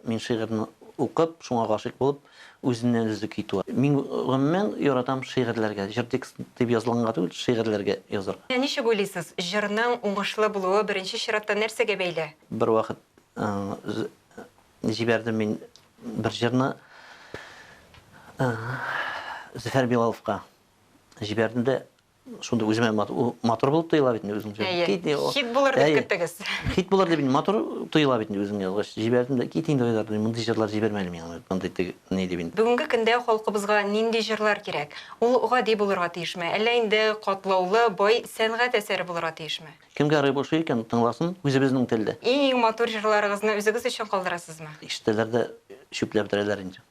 Мин шигырьне укып, шуңа гашыйк булып, үзеннән үзе китү. Мин гомумән яратам шигырьләргә, җыр текстын дип язылганга түгел, шигырьләргә язарга. Ничек уйлыйсыз, җырның уңышлы булуы беренче чиратта нәрсәгә бәйле? Бервакыт җибәрдем мин бер җырны Зөфәр Билаловка җибәрдем дә, Шунда үземә матур булып тоела бит инде үземчә. Әйе. Хит булыр дип көттегез. Хит булыр дип матур тоела бит инде үзем язгач. Җибәрдем дә кит инде Айдар, мондый җырлар җибәрмәле миңа. Мондый ни дип инде. Бүгенге көндә халкыбызга нинди җырлар кирәк? Ул гади булырга тиешме, әллә инде катлаулы, бай сәнгать әсәре булырга тиешме? Кемгә рып ошый икән, тыңласын үзебезнең телдә. Иң-иң матур җырларыгызны үзегез өчен калдырасызмы? Ишетәләр дә чүпләп бетерәләр инде.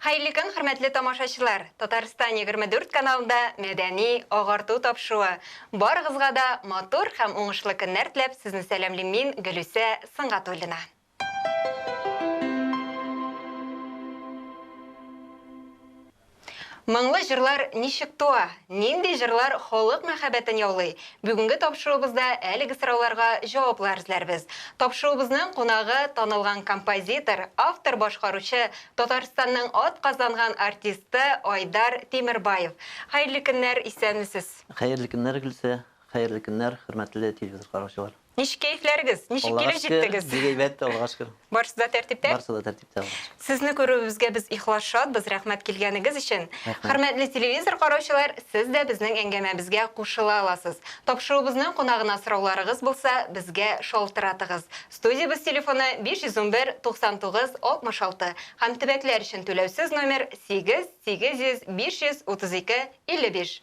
Хәерле көн, хөрмәтле тамашачылар! Татарстан егерме дүрт каналында мәдәни агарту тапшыуы. Барыгызга да матур һәм уңышлы көннәр теләп, сезне сәламлим мин, Гөлүсә Сынгатуллина. Моңлы җырлар ничек туа, нинди җырлар халык мәхәббәтен яулый? Бүгенге тапшыруыбызда әлеге сорауларга җаваплар эзләрбез. Тапшыруыбызның кунагы, танылган композитор, автор-башкаручы, Татарстанның атказанган артисты Айдар Тимербаев. Хәерле көннәр, исәнмесез! Хәерле көннәр, Гөлсә! Хәерле көннәр, хөрмәтле телевизор караучылар! Ничек кәефләрегез? Ничек Аллага килеп шөкер, җиттегез? бик әйбәт, Аллага шөкер. Барысы да тәртиптә? Барысы да тәртиптә, Аллага шөкер. Сезне күрүебезгә без ихлас шатбыз, рәхмәт килгәнегез өчен. Рәхмәт. Хөрмәтле телевизор караучылар, сез дә безнең әңгәмәбезгә кушыла аласыз. Тапшыруыбызның кунагына сорауларыгыз булса, безгә шалтыратыгыз. Студиябез телефоны 511 99 66 һәм төбәкләр өчен түләүсез номер 8 800 532 55.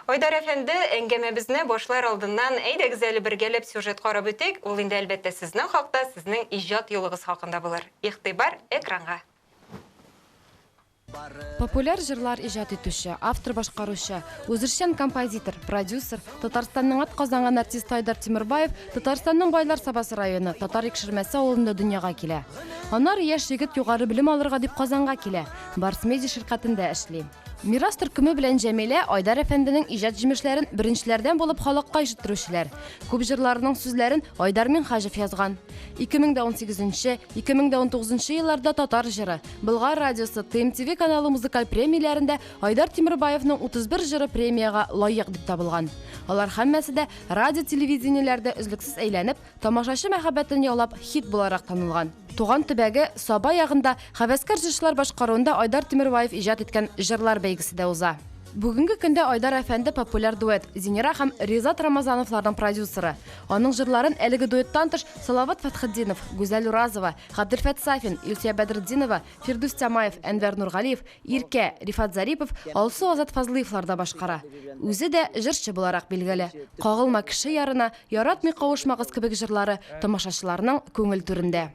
Айдар әфәнде, әңгәмәбезне башлар алдыннан, әйдәгез әле бергәләп сюжет карап үтик, ул инде әлбәттә сезнең хакта, сезнең иҗат юлыгыз хакында булыр. Игътибар, экранга! Популяр җырлар иҗат итүче, автор-башкаручы, үзешчән композитор, продюсер, Татарстанның атказанган артисты Айдар Тимербаев Татарстанның Байлар Сабасы районы Татар Икшермәсе авылында дөньяга килә. Аннары яшь егет югары белем алырга дип Казанга килә, Барсмеди ширкатендә эшли. Мирас төркеме белән Җәмилә Айдар әфәнденең иҗат җимешләрен беренчеләрдән булып халыкка ишеттерүчеләр. Күп җырларының сүзләрен Айдар Минхаҗев язган. 2018-2019 елларда Татар җыры, Болгар радиосы, ТМТВ каналы музыкаль премияләрендә Айдар Тимербаевның 31 җыры премиягә лаек дип табылган. Алар һәммәсе дә радио-телевидениеләрдә өзлексез әйләнеп, Тамашачы мәхәббәтен яулап, хит буларак танылган. Туган төбәге Саба ягында хәвәскәр җырчылар башкаруында Айдар Тимербаев иҗат иткән җырлар бәйгесе дә уза. Бүгенге көндә Айдар әфәнде популяр дуэт Зинира һәм Ризат Рамазановларның продюсеры. Аның җырларын әлеге дуэттан тыш Салават Фәтхетдинов, Гүзәл Уразова, Габделфәт Сафин, Илсөя Бәдретдинова, Фирдүс Тямаев, Әнвәр Нургалиев, Иркә, Рифат Зарипов, Алсу Азат Фазлыевлар да башкара. Үзе дә җырчы буларак билгеле. Кагылма кеше ярына, Яратмый кавышмагыз кебек җырлары тамашачыларның күңел түрендә.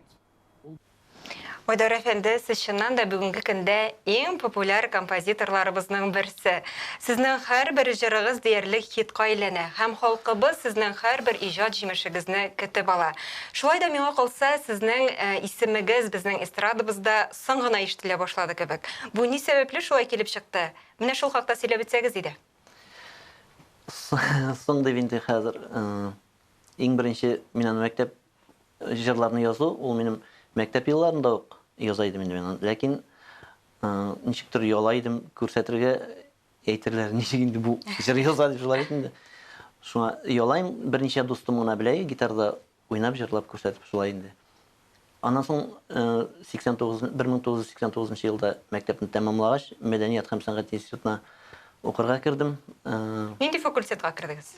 Айдар әфәнде, сез чыннан да бүгенге көндә иң популяр композиторларыбызның берсе. Сезнең һәрбер җырыгыз диярлек хитка әйләнә һәм халкыбыз сезнең һәрбер иҗат җимешегезне көтеп ала. Шулай да миңа калса, сезнең исемегез безнең эстрадабызда соң гына ишетелә башлады кебек. Бу ни сәбәпле шулай килеп чыкты? Менә шул хакта сөйләп үтсәгез иде. Соң дип инде хәзер иң беренче мин аны мәктәп җырларны язу, ул минем мәктәп елларында ук яза идем инде мин. Ләкин ничектер яла идем күрсәтергә әйтерләр ничек инде бу җыр яза дип шулай инде. Шуңа ялайм берничә дустым гына белә гитарда Уйнап җырлап күрсәтеп шулай инде. Аннан соң 89 1989 нчы елда мәктәпне тәмамлагач, мәдәният һәм сәнгать институтына укырга кердем. Нинди факультетка кердегез?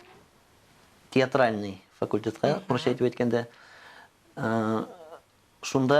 Театральный факультетка, урысча итеп әйткәндә. Шунда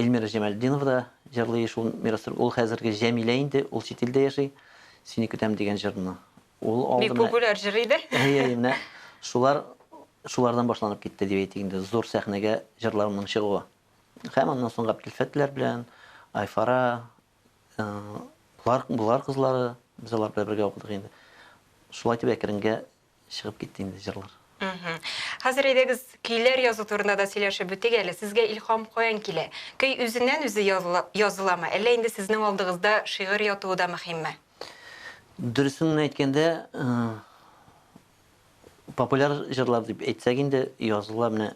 Эльмира Җамәлетдинова да җырлый шул мирастыр. Ул хәзерге Җәмилә инде, ул чит илдә яши. Сине көтәм дигән җырны. Ул алды менә. Бик популяр җыр иде. Әйе, әйе, менә шулар шулардан башланып китте дип әйтик инде, зур сәхнәгә җырларымның чыгуы. Һәм аннан соң Габделфәтләр белән, Айфара, болар, болар кызлары, без алар белән бергә укыдык инде. Шулай итеп әкренгә Чыгып китте инде җырлар. Хәзер әйдәгез, көйләр язу турында да сөйләшеп үтик әле. Сезгә илһам каян килә? Көй үзеннән-үзе языламы, әллә инде сезнең алдыгызда шигырь ятуы да мөһимме? Дөресен генә әйткәндә, популяр җырлар дип әйтсәк инде, языла менә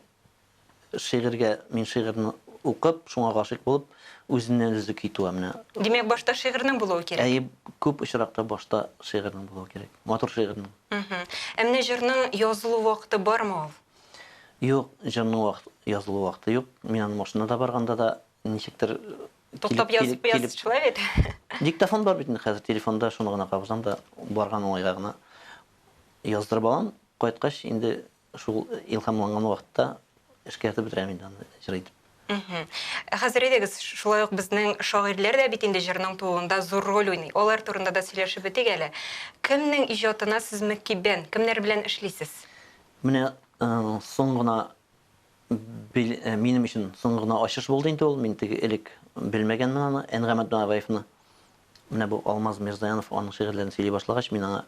Шигырьгә, мин шигырьне укып, шуңа гашыйк булып, үзеннән-үзе китү, ә менә. Димәк, башта шигырьнең булуы кирәк. Әйе, күп очракта башта шигырьнең булуы кирәк, матур шигырьнең. Мхм. Ә менә җырның язылу вакыты бармы ул? Юк, җырның вакыт, язылу вакыты юк. Мин аны машинада барганда да ничектер килеп, Туктап килеп, язып, килеп. язып шулай бит. Диктофон бар бит инде хәзер, телефонда шуны гына кабызам да, барган уңайга гына яздырып алам. Кайткач, инде Шул илһамланган вакытта эшкәртеп бетерәм инде аны җыр итеп. Мхм. Ә хәзер әйдәгез, шулай ук безнең шагыйрьләр дә бит инде җырның тууында зур роль уйный. Алар турында да сөйләшеп үтик әле. Кемнең иҗатына сез мөкиббән, кемнәр белән эшлисез? Менә соң гына минем өчен соң гына ачыш булды инде ул. Мин теге элек белмәгәнмен аны, Әнгамәт Дунагаевны. Менә бу Алмаз Мирзаянов аның шигырьләрен сөйли башлагач, мин аңа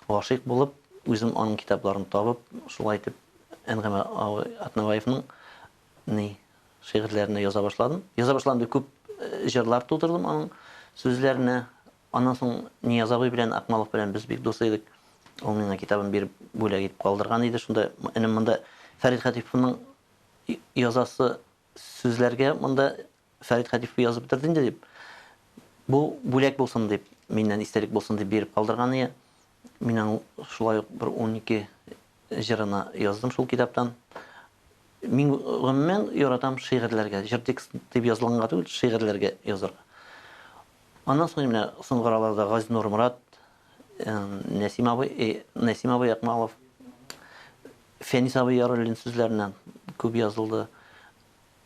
гашыйк булып, үзем аның китапларын табып, шулай итеп Әнгаме абый Атнабаевның ни шигырьләренә яза башладым. Яза башладым дип күп җырлар тудырдым аның сүзләренә. Аннан соң Нияз абый белән Акмалов белән без бик дус идек. Ул миңа китабын биреп бүләк итеп калдырган иде. Шунда энем монда Фәрит Хәтиповның язасы сүзләргә монда Фәрит Хәтифовка язып бетерде инде, дип, бу бүләк булсын дип, миннән истәлек булсын дип биреп калдырганы. Мин аның шулай ук бер унике җырына яздым шул китаптан. Мин гомумән яратам шигырьләргә, җыр текст дип язылганга түгел, шигырьләргә язарга. Аннан соң менә соңгы араларда Гази Нурмурат, Нәсим абый, Нәсим абый Акмалов, Фәнис абый Яруллин сүзләренә күп язылды.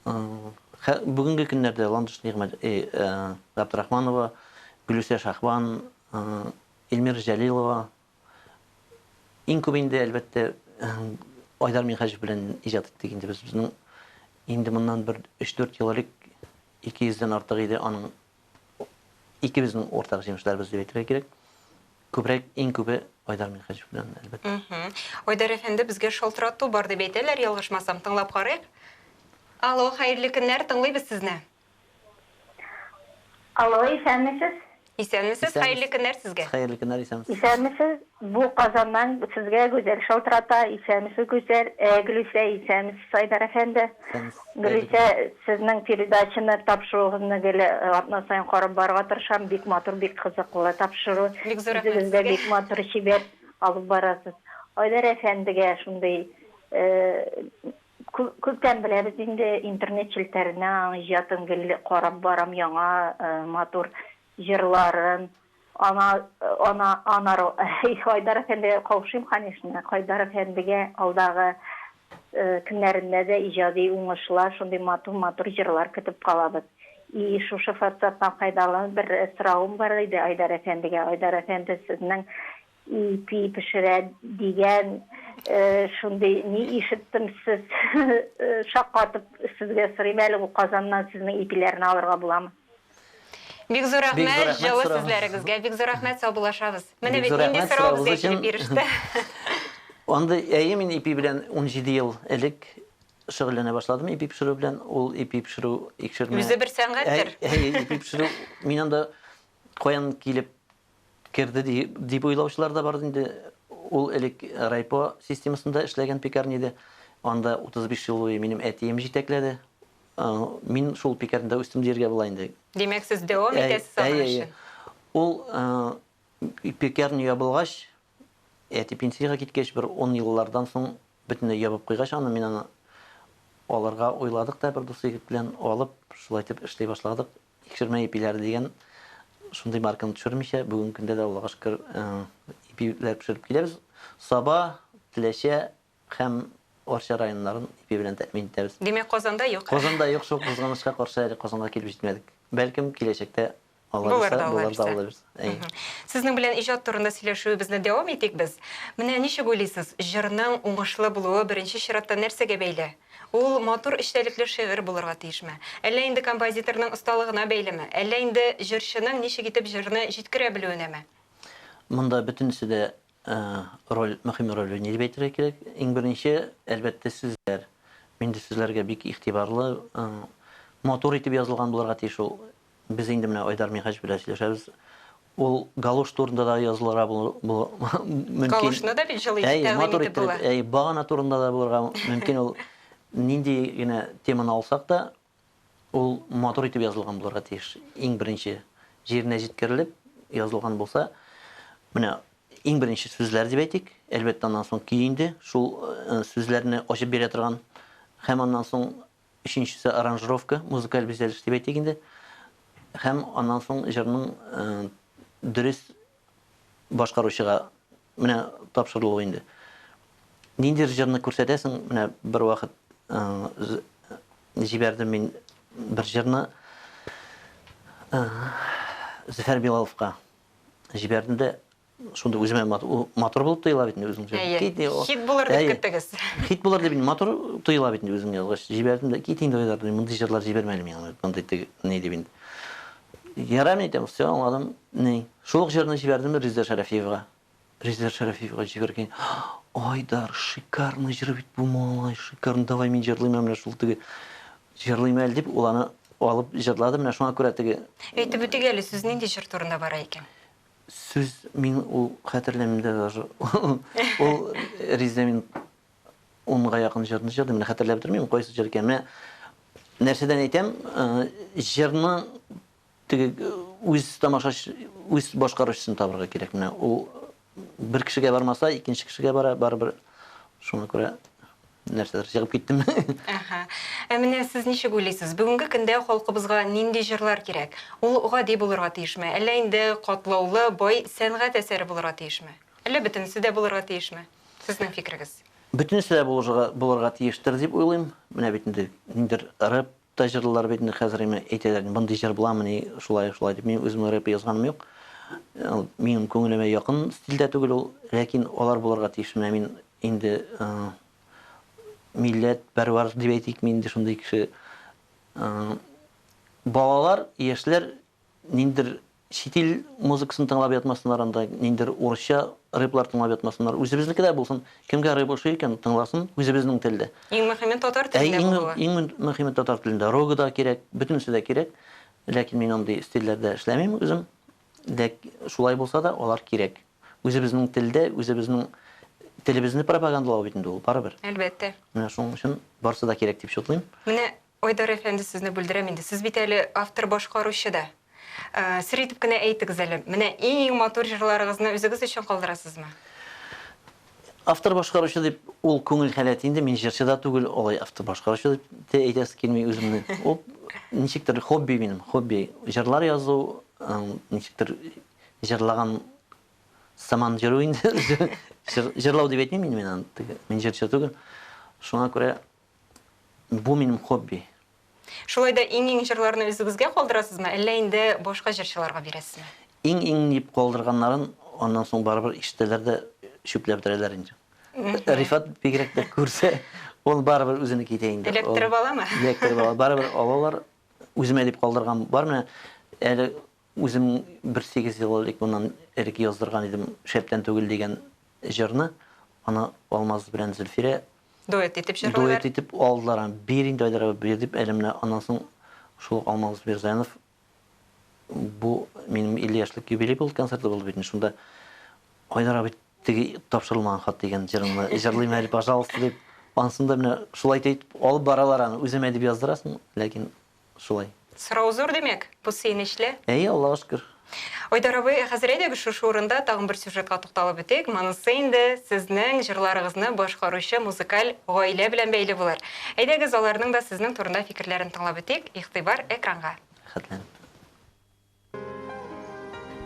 Бүгенге көннәрдә Ландыш Нигъмәт, Габдрахманова, Гөлүсә Шаһбан, Эльмира Җәлилова, иң күп инде, әлбәттә, Айдар Минһаҗев белән иҗат иттек инде без. Безнең инде моннан бер өч-дүрт ел элек 200 дән артык иде аның икебезнең уртак җимешләребез дип әйтергә кирәк. Күбрәк, иң күбе Айдар Минхәҗев белән, әлбәттә. Айдар әфәнде, безгә шалтырату бар дип әйтәләр, ялгышмасам, тыңлап карыйк. Алло, хәерле көннәр, тыңлыйбыз сезне. Алло, исәнмесез? Исәнмесез, хәерле көннәр сезгә. Хәерле көннәр, исәнмесез. Исәнмесез, Бу Казаннан сезгә Гүзәл шалтырата, исәнмесез Гүзәл, э Гөлүсә, исәнмесез Айдар әфәнде. Исәнмесез, Гүзәл Гөлүсә, генә. сезнең передачаны, тапшыруыгызны гел атна саен карап барырга тырышам, бик матур, бик кызыклы тапшыру. Бик зур рәхмәт Үзегез дә сезгә. бик матур, чибәр алып барасыз. Айдар әфәндегә шундый, э кү күптән беләбез инде, интернет челтәреннән аның иҗатын гел карап барам, яңа, э матур җырларын, Ана, ана, анару. Их, Айдар әфәндегә каушыйм, конечно. Айдар әфәндегә алдагы көннәрендә дә иҗади уңышлар, шундый матур-матур җырлар көтеп калабыз. И, шушы форсаттан файдаланып, бер соравым бар иде Айдар әфәндегә. Айдар әфәнде, сезнең Ипи пешерә дигән шундый ни ишеттем сез шаккатып сезгә сорыйм әле бу Казаннан сезнең ипиләрне алырга буламы? Бик зур рәхмәт җылы сүзләрегезгә. Бик зур рәхмәт саубуллашабыз. Менә бит нинди сорау безгә килеп биреште. Андый әйе мин ипи белән унҗиде ел элек шөгыльләнә башладым ипи пешерү белән ул ипи пешерү икшермә. Үзе бер сәнгатьтер. Әйе ипи пешерү мин анда каян килеп керде ди, дип уйлаучылар да бар инде. Ул элек райпо системасында эшләгән пекарня иде. Анда 35 ел буе минем әтием җитәкләде. Э, мин шул пекарнядә үстем диергә була инде. Димәк, сез дәвам итәсез аның эшен? Ул э, пекарня ябылгач, әти пенсиягә киткәч, бер 10 еллардан соң бөтенләй ябып куйгач, аны мин аны алырга уйладык та бер дус егет белән алып, шулай итеп эшли башладык. Тикшермә ипиләре дигән шундый марканы төшермичә, бүгенге көндә дә, Аллага шөкер, ипиләр пешереп киләбез. Саба, Теләчә һәм Арча районнарын ипи белән тәэмин итәбез. Димәк, Казанда юк әле. Казанда юк, шул кызганычка каршы әле Казанга килеп җитмәдек. Бәлкем, киләчәктә Алла бирсә, булыр да алабыз. Әйе. Сезнең белән иҗат турында сөйләшүебезне дәвам итик без. Менә ничек уйлыйсыз, җырның уңышлы булуы беренче чиратта нәрсәгә бәйле? Ул матур эчтәлекле шигырь булырга тиешме? Әллә инде композиторның осталыгына бәйлеме? Әллә инде җырчының ничек итеп җырны җиткерә белүенәме? Монда бөтенесе дә роль, мөһим роль уйный дип әйтергә кирәк. Иң беренче, әлбәттә, сүзләр. Мин инде сүзләргә бик игътибарлы. Матур итеп язылган булырга тиеш ул Без инде менә Айдар Михач белән сөйләшәбез. Ул галош турында да язылырга мөмкин. Галошны да бит җылы итеп тәкъдим итеп була. Әй, багана турында да булырга мөмкин ул. Нинди генә теманы алсак та, ул матур итеп язылган булырга тиеш. Иң беренче җиренә җиткерелеп язылган булса, менә иң беренче сүзләр дип әйтик, әлбәттә аннан соң көй инде, шул сүзләрне ачып бирә торган һәм аннан соң Өченчесе аранжировка, музыкаль бизәлеш дип әйтик инде. Һәм аннан соң җырның дөрес башкаручыга менә тапшырылу инде. Ниндидер җырны күрсәтәсең, менә бервакыт җибәрдем мин бер җырны Зөфәр Билаловка җибәрдем дә, Шунда үземә матур булып тоела бит инде үземчә. Кит, хит булыр дип көттегез. Хит булыр дип матур тоела бит инде үзем язгач. Җибәрдем дә кит инде уйлар, мондый җырлар җибәрмәле миңа, мондый ни дип инде. Ярам әйтәм, все, аңладым. Ни? Шул ук җырны җибәрдем Риза Шәрәфиевга. Риза Шәрәфиевга җибәргән. Айдар, шикарный җыр бит бу малай, шикарный, давай мин җырлыйм менә шул теге. Җырлыйм әле дип, ул аны алып җырлады, менә шуңа күрә теге. Әйтеп үтик әле, сүз нинди җыр турында бара икән? Сүз мин ул хәтерләмим дә даже. Ул Ризә мин унга якын җырны җырдым. Менә хәтерләп тормыйм, кайсы җыр икән. Менә нәрсәдән әйтәм, җырны теге үз тамашач, үз башкаручысын табырга кирәк. Менә ул бер кешегә бармаса, икенче кешегә бара, барыбер. Шуңа күрә Нәрсәдер чыгып киттеме? Әһә. Ә менә сез ничек уйлыйсыз, бүгенге көндә халкыбызга нинди җырлар кирәк? Ул гади булырга тиешме, әллә инде катлаулы, бай сәнгать әсәре булырга тиешме? Әллә бөтенесе дә булырга тиешме? Сезнең фикерегез. Бөтенесе дә булырга тиештер дип уйлыйм. Менә бит инде ниндидер рэп Та җырлыйлар бит инде хәзер име әйтәләр мондый җыр буламыни шулай шулай дип мин үзем рэп язганым юк минем күңелемә якын стиль дә түгел ул ләкин алар булырга тиеш менә мин инде милләт пәрвар дип әйтик мин инде шундый кеше балалар яшьләр ниндидер Чит ил музыкасын тыңлап ятмасыннар анда, ниндидер урысча рэплар тыңлап ятмасыннар. Үзебезнеке дә булсын. Кемгә рэп ошый икән, тыңласын үзебезнең телдә. Иң мөхиме татар телендә булуы. Әй, иң мөхиме татар телендә. Рогы да кирәк, бөтенесе дә кирәк. Ләкин мин андый стильләрдә эшләмим үзем. Ләк шулай булса да, алар кирәк. Үзебезнең телдә, үзебезнең телебезне пропагандалау бит инде ул, барыбер. Әлбәттә. Менә шуның өчен барысы да кирәк дип чутлыйм. Менә Айдар әфәнде, сезне бүлдерәм инде, сез бит әле автор башкаручы да. Сер итеп кенә әйтегез әле, менә иң матур җырларыгызны үзегез өчен калдырасызмы? Автор башкаручы дип, ул күңел халәте инде, мин җырчы да түгел, алай автор башкаручы дип тә әйтәсе килми үземне. Ул ничектер хобби минем, хобби. Җырлар язу, ничектер җырлаган сыман йөрү инде. Җырлау дип әйтмим инде мин аны, мин җырчы түгел. Шуңа күрә Бу минем хобби. Шулай да иң-иң җырларны үзегезгә калдырасызмы, әллә инде башка җырчыларга бирәсезме? Иң-иң дип калдырганнарын аннан соң барыбер ишетәләр дә чүпләп бетерәләр инде. Рифат бигрәк тә күрсә, ул барыбер үзенеке итә инде. Эләктереп аламы? Эләктереп ала. Барыбер алалар. Үземә дип калдырган бар менә әле Үзем бер сигез ел элек моннан элек яздырган идем Шәптән түгел дигән җырны. Аны Алмаз белән Зөлфирә Дуэт итеп җырлыйлар. Дуэт итеп алдылар аны. Бир инде, Айдар абый, бир, дип, әле менә аннан соң шул ук Алмаз Бирзаянов бу минем 50 яшьлек юбилей булды, концерты булды бит инде. Шунда Айдар абый теге тапшырылмаган хат дигән җырыңны җырлыйм әле, пожалуйста, дип, ансын да менә шулай итеп алып баралар аны. Үземә дип яздырасың, ләкин Шулай. Сорау зур димәк, бу сөенечле. Әйе, Аллага шөкер. Айдар абый, ә хәзер әйдәгез шушы урында тагын бер сюжетка тукталып үтик, монысы инде сезнең җырларыгызны башкаручы музыкаль гаилә белән бәйле булыр. Әйдәгез аларның да сезнең турында фикерләрен тыңлап үтик, игътибар экранга. Рәхәтләнеп.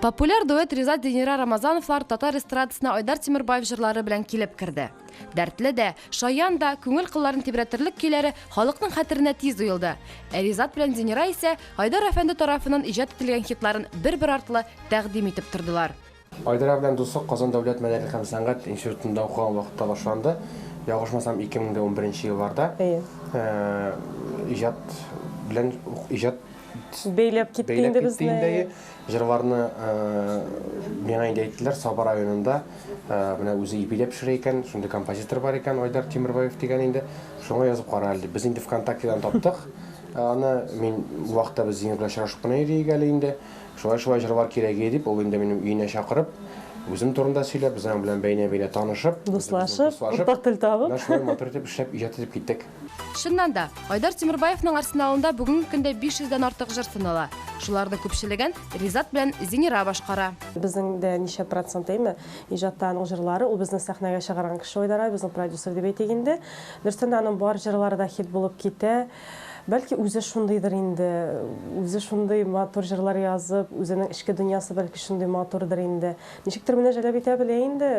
Популяр дуэт Ризат Динира Рамазановлар татар эстрадасына Айдар Тимербаев җырлары белән килеп керде. Дәртле дә, шаян да, күңел кылларын тибрәтерлек көйләре халыкның хәтеренә тиз уелды. Ә Ризат белән Динира исә Айдар әфәнде тарафыннан иҗат ителгән хитларын бер-бер артлы тәкъдим итеп тордылар. Айдара белән дуслык Казан дәүләт мәдәният һәм сәнгать институтында укыган вакытта башланды. Ялгышмасам, 2011 елларда иҗат белән ук иҗат Бәйләп китте инде безне. Бәйләп китте инде, әйе. Җырларны миңа инде әйттеләр, Саба районында менә үзе ипиләп пешерә икән, шундый композитор бар икән, Айдар Тимербаев дигән инде, шуңа язып кара әле, дип. Без инде ВКонтактедан таптык аны. Мин ул вакытта без Зиннур белән очрашып кына йөри идек әле инде. Шулай-шулай җырлар кирәге, дип, ул инде минем өенә чакырып, үзем турында сөйләп, без аның белән бәйнә-бәйнә танышып, Дуслашып, уртак тел табып. менә шулай матур итеп эшләп, иҗат итеп киттек. Чыннан да, Айдар Тимербаевның арсеналында бүгенге көндә 500 дән артык җыр сынала. Шуларның күпчелеген Ризат белән Зинира башкара. Безнең дә ничә процент, әйме, иҗатта аның җырлары. Ул безне сәхнәгә чыгарган кеше Айдар абый, безнең продюсер дип әйтик инде. Дөрестән дә, аның бар җырлары да хит булып китә. Бәлки үзе шундыйдыр инде, үзе шундый матур җырлар язып, үзенең эчке дөньясы бәлки шундый матурдыр инде. Ничектер менә Җәләбикә белә инде,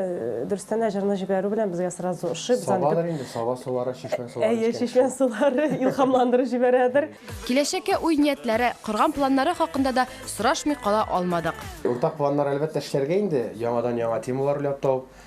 дөрестән дә җырны җибәрү белән безгә сразу ошый. Без аны Сабадыр инде, саба сулары, чишмә сулары Әйе, эчкән чишмә кеше. сулары илһамландырып җибәрәдер. Киләчәккә уй-ниятләре, корган планнары хакында да сорашмый кала алмадык. Уртак планнар, әлбәттә, эшләргә инде, яңадан-яңа темалар уйлап табып,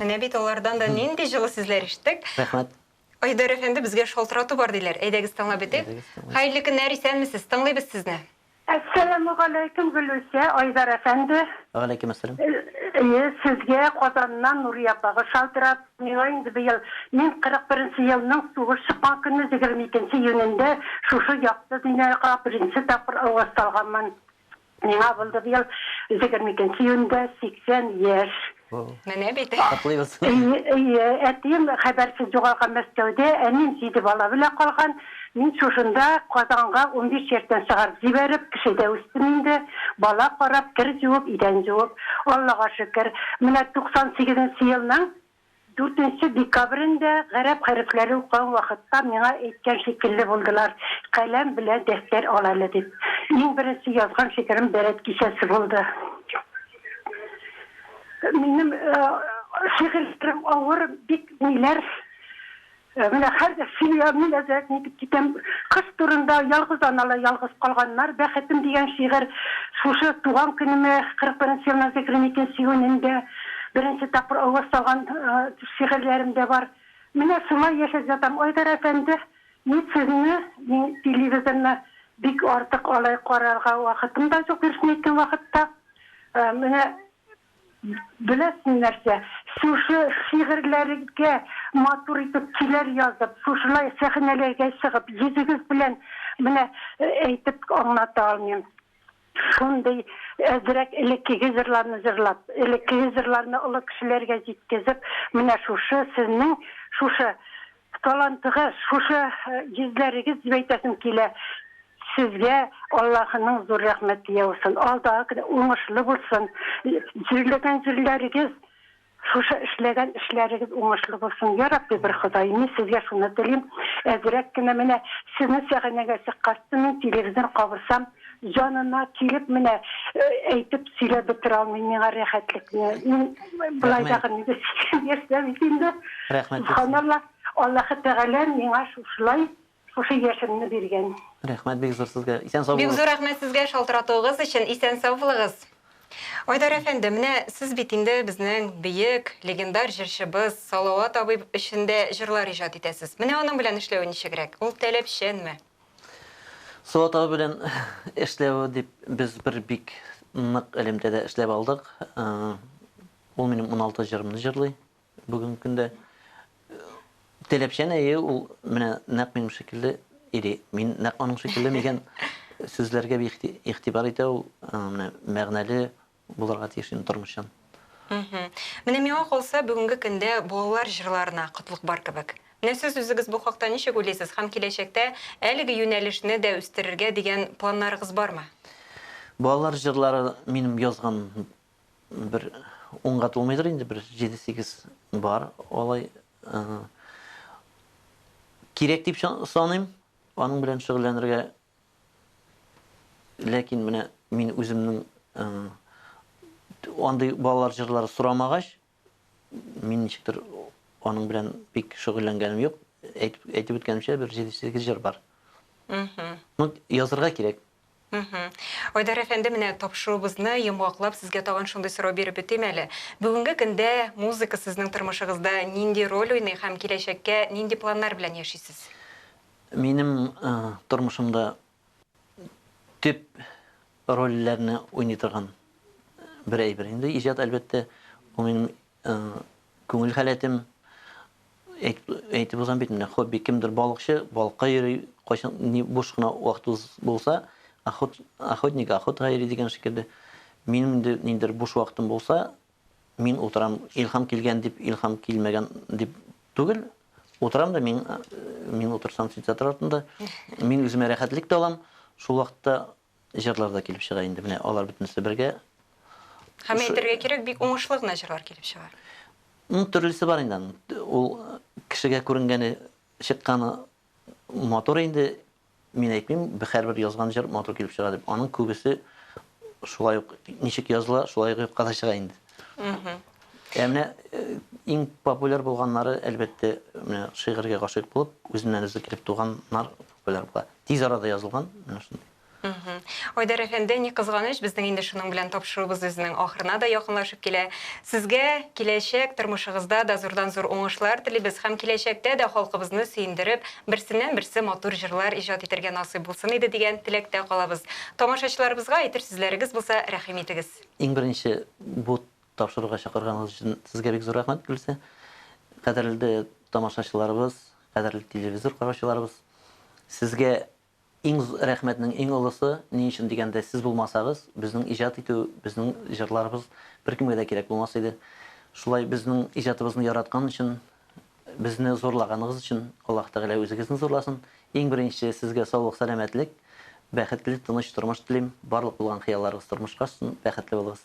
Менә бит алардан да нинди җылы сүзләр ишеттек. Рәхмәт. Айдар әфәнде, безгә шалтырату бар диләр. Әйдәгез тыңлап бетик. Хәерле көннәр, исәнмесез, тыңлыйбыз сезне. Әссәламү галәйкүм, Гөлүсә, Айдар әфәнде. Вә галәйкүм әссәлам. Әйе, сезгә Казаннан Нурия апагыз шалтырат. Миңа инде быел, мин 41 нче елның сугыш чыккан көнне 22 нче июнендә шушы якты дөньяга беренче тапкыр аваз салганмын. Миңа булды быел егерме икенче июньдә сиксән яшь. Менә бит. Котлыйбыз. Әйе, әтием хәбәрсез югалган Мәскәүдә, әнием җиде бала белән калган. Мин шушында Казанга унбиш яшьтән чыгарып җибәреп, кешедә үстем инде. Бала карап, кер җуып, идән җуып. Аллага шөкер, менә туксан сигезенче елның Дүртенче декабрен дә гарәп хәрефләре укыган вакытта миңа әйткән шикелле булдылар, каләм белән дәфтәр ал әле дип. Иң беренче язган шигырем Дәрәт кичәсе булды. Минем шигырьләрем авыр, бик ниләр. Ә менә хәзер семьямны нәзарәт итеп китәм. Кыз турында, Ялгыз аналар ялгыз калганнар, Бәхетем дигән шигырь шушы туган көнемә, 41 елның зикрен итү сигүнендә беренче тапкыр аваз салган шигырьләрем дә бар. Менә шулай яшәп ятам. Айдар әфәнде, мин сезне, мин телевизорны бик артык алай карарга вакытым да юк, дөресен әйткән вакытта. Менә Беләсеңме нәрсә, шушы шигырьләрегә матур итеп көйләр язып, шушылай сәхнәләргә чыгып, йөзегез белән менә әйтеп аңлата алмыйм. Шундый әзрәк элеккеге җырларны җырлап, элеккеге җырларны олы кешеләргә җиткезеп, менә шушы сезнең шушы Талантыгыз, шушы йөзләрегез дип әйтәсем килә. Сезгә Аллаһының зур рәхмәте яусын. Алдагы көн уңышлы булсын. Җирләгән җирләрегез, шушы эшләгән эшләрегез уңышлы булсын. Йа Рабби бер Ходай, мин сезгә шуны телим. Әзрәк кенә менә сезнең сәхәнәгә чыккач, мин телевизор кабызсам, Янына килеп менә әйтеп сөйләп бетерә алмыйм миңа рәхәтлекне. Мин болай да гына яшәп бит инде. Рәхмәт. Һаналла Аллаһы Тәгалә миңа шушылай шушы яшемне биргән. Рәхмәт бик зур сезгә. Исән сау булыгыз. Бик зур рәхмәт сезгә шалтыратуыгыз өчен. Исән сау булыгыз. Айдар әфәнде, менә сез бит инде безнең бөек, легендар җырчыбыз Салават абый өчен дә җырлар иҗат итәсез. Менә аның белән эшләве ничегрәк? Ул таләпчәнме? Сылатау белән эшләве дип без бер бик нык элемтәдә эшләп алдык. Ул минем 16 җырымны җырлый бүгенге көндә. Теләпчән әйе ул менә нәкъ минем шикелле или мин нәкъ аның шикелле дигән сүзләргә бик ихтибар итә ул. Менә мәгънәле булырга тиеш инде тормышчан. Менә миңа калса, бүгенге көндә балалар җырларына кытлык бар кебек. Менә сез үзегез бу хакта ничек уйлыйсыз һәм киләчәктә әлеге юнәлешне дә үстерергә дигән планнарыгыз бармы? Балалар җырлары минем язган бер унга тулмыйдыр инде, бер җиде-сигез бар алай. Кирәк дип саныйм, аның белән шөгыльләнергә Ләкин менә мин үземнең андый балалар җырлары сорамагач, мин ничектер аның белән бик шөгыльләнгәнем юк. Әйтеп, әйтеп үткәнемчә, бер 7-8 җыр бар. Ну, язырга кирәк. Айдар әфәнде, менә тапшыруыбызны йомгаклап, сезгә тагын шундый сорау биреп бетим әле. Бүгенге көндә музыка сезнең тормышыгызда нинди роль уйный һәм киләчәккә нинди планнар белән яшисез? Минем тормышымда төп рольләрне уйный торган бер әйбер инде иҗат, әлбәттә. Ул минем күңел халәтем. Әйтеп узам бит менә, хобби кемдер балыкчы, балыкка йөри, кайчан ни буш кына вакытыбыз булса, охот, охотник охотага йөри дигән шикелле. Минем инде ниндер буш вакытым булса, Мин утырам, илһам килгән дип, илһам килмәгән дип түгел. Утырам да мин, мин утырсам синтетатор артында, мин үземә рәхәтлек тә алам. Шул вакытта җырлар да килеп чыга инде. Менә алар бөтенесе бергә. Һәм әйтергә кирәк, бик уңышлы гына җырлар килеп чыга. Ну, төрлесе бар инде. Ул кешегә күренгәне, чыкканы матур инде, Мин әйтмим, һәрбер язган җыр матур килеп чыга дип. Аның күбесе шулай ук ничек языла, шулай ук юкка да чыга инде. Ә менә иң популяр булганнары, әлбәттә, менә шигырьгә гашыйк булып, үзеннән-үзе килеп туганнар популяр була. Тиз арада язылган, менә шундый. Айдар әфәнде, ни кызганыч, безнең инде шуның белән тапшыруыбыз үзенең ахырына да якынлашып килә. Сезгә киләчәк тормышыгызда да зурдан-зур уңышлар телибез һәм киләчәктә дә халкыбызны сөендереп, берсеннән-берсе матур җырлар иҗат итәргә насыйп булсын иде дигән теләктә калабыз. Тамашачыларыбызга әйтер сүзләрегез булса, рәхим итегез. Иң беренче бу тапшыруга чакырганыгыз өчен сезгә бик зур рәхмәт, Гөлсә. Кадерле тамашачыларыбыз, кадерле телевизор караучыларыбыз, сезгә Иң зур рәхмәтнең иң олысы, ни өчен дигәндә, сез булмасагыз, безнең иҗат итү, безнең җырларыбыз беркемгә дә кирәк булмас иде. Шулай безнең иҗатыбызны яраткан өчен, безне зурлаганыгыз өчен Аллаһ Тәгалә үзегезне зурласын. Иң беренче сезгә саулык, сәламәтлек, бәхетле, тыныч тормыш телим. Барлык булган хыялларыгыз тормышка ашсын, бәхетле булыгыз.